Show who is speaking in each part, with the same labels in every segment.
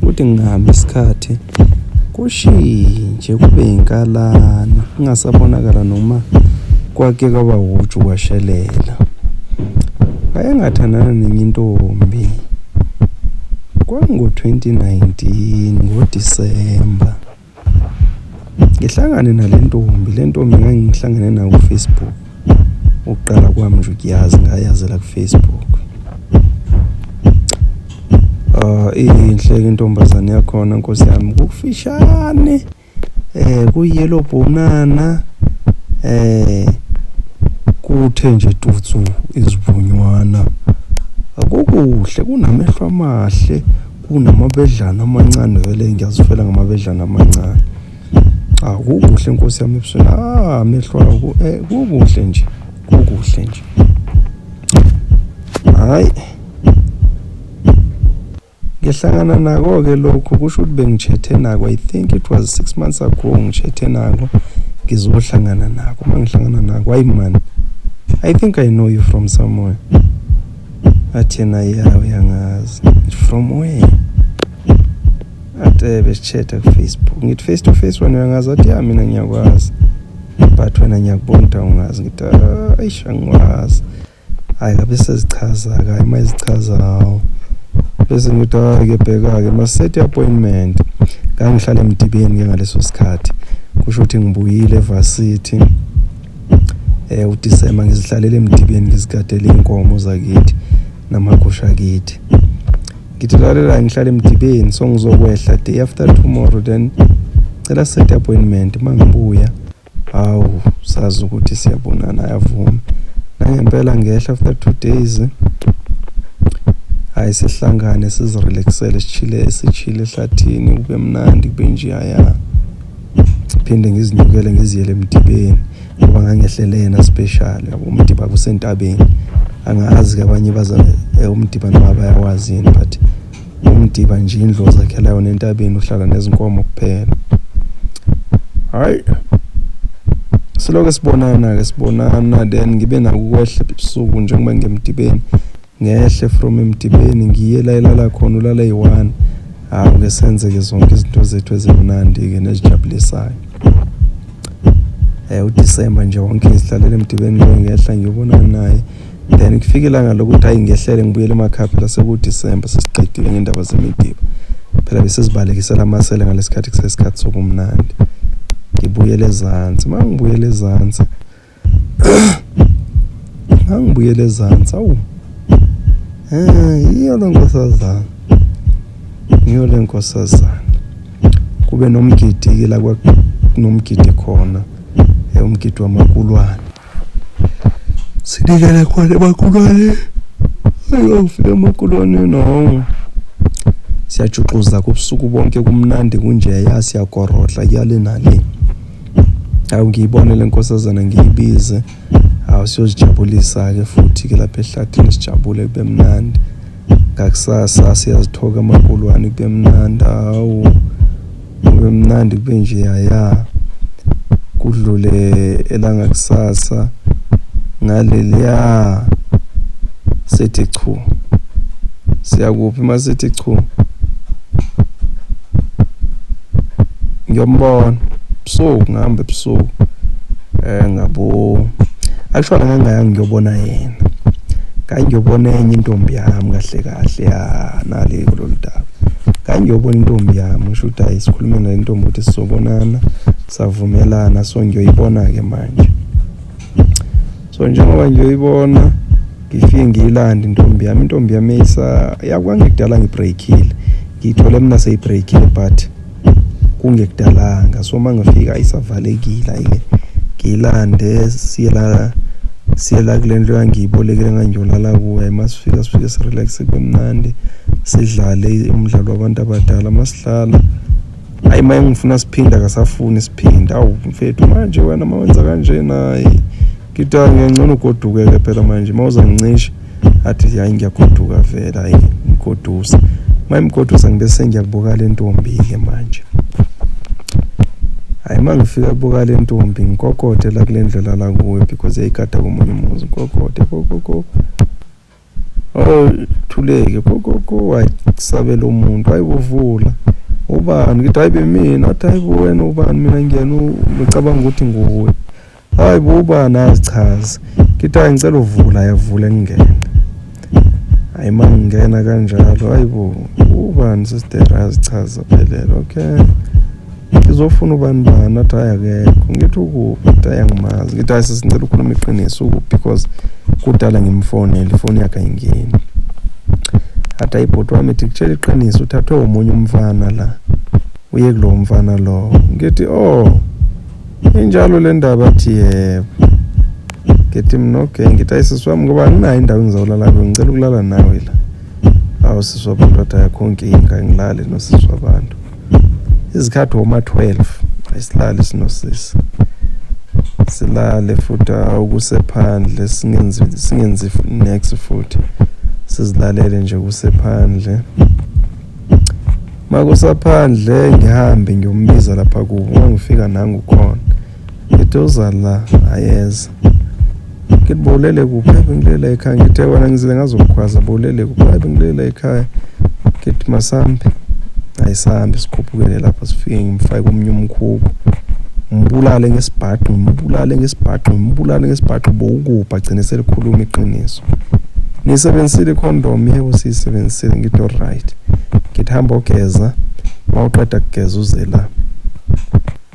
Speaker 1: Kuthi ngihamba isikhathi kushintshe kube inkalana kungasabonakala noma kwake kwaba wuju kwashelela. Wayengathandana nenye intombi. Kwango-2019 ngoDisemba. ngihlangane nale ntombi le ntombi ngangihlangene nayo kufacebook ukuqala kwami nje ukuyazi ngayazela kufacebook um iyinhle ke intombazane yakhona nkosi yami kufishane um kuyelo bhonana um kuthe nje tutsu izivunywana akukuhle kunamehlo amahle kunamabedlana amancane vele ngiyazifela ngamabedlana amancane cha ah, kukuhle nkosi yami ebusweni ah amehlo awo eh, kukuhle nje kukuhle nje hayi ngihlangana nako-ke lokhu kusho ukuthi bengitshethe nako i think it was six months ago ngitshethe nako ngizohlangana nako uma ngihlangana nako hayi mani i think i know you from somewhere athena yawe yangazi from where atebe eh, sithetha kufacebook ngithi face to face wena uyangazi athi ya mina ngiyakwazi but wena ngiyakubona ukuthi awungazi ngithi ah, ayish angikwazi hhayi kabe sezichaza-ke hhayi uma ezichazawo bese ngithi hhayi-ke ah, bheka-ke masethi appointment ngangihlale emdibeni-ke ngaleso sikhathi kusho ukuthi ngibuyile evasithi eh uDisemba ngizihlalele emdibeni ngizigadele inkomo zakithi namagusha kithi ngithi lalela ngihlale emdibeni so ngizokwehla day after tomorrow then cela set appointment mangibuya hawu sazi ukuthi siyabonana yavuma nangempela ngehla after two days hayi sihlangane sizirelaxele sichile sichile ehlathini kube mnandi kube nje yaya phinde ngizinyukele ngiziyele emdibeni ngoba ngangehlele yena special yabo umdiba kusentabeni angazi kabanye baza eh, umdiba noma bayawazi yini but umdiba nje indlu ozakhela yona entabeni uhlala nezinkomo kuphela hayi siloke sibonana-ke sibonana then ngibe nakukwehla ebusuku njengoba ngemdibeni ngehle from emdibeni ngiye la ilala khona ulala eyi-one hawu ke senze-ke zonke izinto zethu ezimnandi-ke nezijabulisayo um udisemba nje wonke ngizihlalele emdibeni loyo ngehla ngiyobonana naye then kufike ilanga lokuthi hayi ngehlele ngibuyele emakhaya phela sekudisemba sesiqedile ngendaba zemidiba phela besizibalekisela amasele ngalesikhathi kusesikhathi sobumnandi ngibuyele ezansi uma ngibuyele ezansi angibuyele ezansi awu um yiyo le nkosazana ngiyo le nkosazana kube nomgidi-ke la kunomgidi khona eh, umgidi wamakulwane sinikele khona emakulwane ayofika emakulwane nongo siyajuxuza kubusuku bonke kumnandi kunjeya siyagorodla kuyale nale Hawu ngiyibone lenkosazana ngiyibize. Hawu siyozijabulisa ke futhi ke lapha ehlathini sijabule kube mnandi. Ngakusasa siyazithoka amakulwane kube mnandi hawu. Kube mnandi kube nje yaya. Kudlule elanga kusasa ngaleliya sithi chu. Siyakuphi masithi chu? ngiyombona ebusuku ngihamba ebusuku eh ngabo actually ngangaya ngiyobona yena ngangiyobona enye intombi yami kahle kahle ya nale kulolu daba ngangiyobona intombi yami ngisho ukuthi hayi sikhulume nale ntombi ukuthi sizobonana savumelana so ngiyoyibona-ke manje so njengoba ngiyoyibona ngifike ngiyilande intombi yami intombi yami isa yakwangekudala ngibreakile ngiyithole mina seyibreakile but kungekudalanga so uma ngifika ayisavalekile ayike ngiyilande siye la siye la kule ndlu yangiyibolekele ngangiyolala kuyo uma sifika sifike sirelaxe kube mnandi sidlale umdlalo wabantu abadala uma sidlala hayi uma engifuna siphinda akasafuni siphinda awu mfethu manje wena uma wenza kanjena hayi Kita ah, ngengcono ugoduke ke phela manje mawuza ngicishe athi hayi ngiyagoduka vela hayi ngigodusa mayimgodusa ngibe sengiyakubuka le ntombi ke manje hayi uma ngifika kubuka le ntombi ngikokode la kule ndlela la kuyo because yayigada komunye umuzi ngikokode kokoko Oh thuleke pho gogo wayisabela umuntu wayibuvula ubani ngithi hayi bemina athi hayi bo wena ubani mina ngiyena ngicabanga ukuthi nguwe hayi bo ubani azichaze ngithi hayi ngicela uvula yavula ngingena hayi uma ngingena kanjalo hayi bo ubani sister azichaze phelele okay ngizofuna ubani bani athi hayi akekho ngithi ukuphi athi hayi angimazi ngithi hayi sesingicela ukhuluma iqiniso ukuphi because kudala ngimfonele ifoni yakhe ayingeni athi hayi bhuti wami ithi kutshela iqiniso uthathwe omunye umfana la uye kulowo mfana lowo ngithi oh injalo le ndaba athi yebo ngithi mna okay ngithi hayi sisi wami ngoba anginayo indawo engizawulala kuyo ngicela ukulala nawe la awu sisi wabantu athi ayakho nkinga ngilale nosisi wabantu izikhathi woma 12 ayisilali sinosisi silale futhi ukusephandle singenzi singenzi next futhi sizilalele nje kusephandle makusaphandle ngihambe ngiyombiza lapha kubo ngifika nangu khona ngithi uza la ayeza ngithi bowulele kuphi ayi bengilela ekhaya ngithe wena ngizile ngazokukhwaza bowulele kuphi ayi bengilela ekhaya ngithi masambe ayisambe sikhuphukele lapho sifike ngimfake komunye umkhubu ngibulale ngesibhaxu ngibulale ngesibhaxu ngibulale ngesibhaxu bowukuphi agcine selikhuluma iqiniso niyisebenzisile icondom yebo siyisebenzisile ngithi olright ngithi hamba ogeza mawuqeda kugeza uze la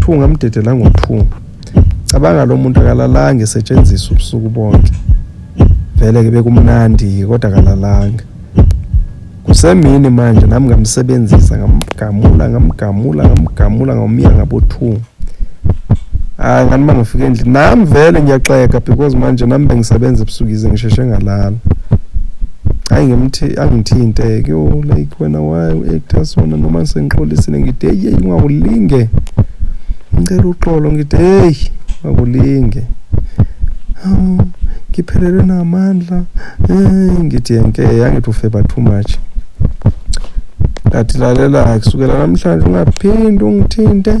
Speaker 1: Thunga mdedela ngothunga. Cabanga lo muntu akalalanga esetshenziswa ubusuku bonke. Vele ke bekumnandi kodwa akalalanga. Kusemini manje nami ngamsebenzisa ngamgamula ngamgamula ngamgamula ngawumiya ngabothunga. Hayi ngani mangifika endlini nami vele ngiyaxeka because manje nami bengisebenza ebusuku ize ngisheshe ngalala. hayi ngimthi angithinte ke oh, like wena why uactor sona noma sengixolisile ngide hey ungakulinge ngicela uxolo ngide hey ungakulinge um ngiphelelwe namandla hey ngithi yenke yangithi ufeba too much ngathi lalela kusukela namhlanje ungaphindi ungithinte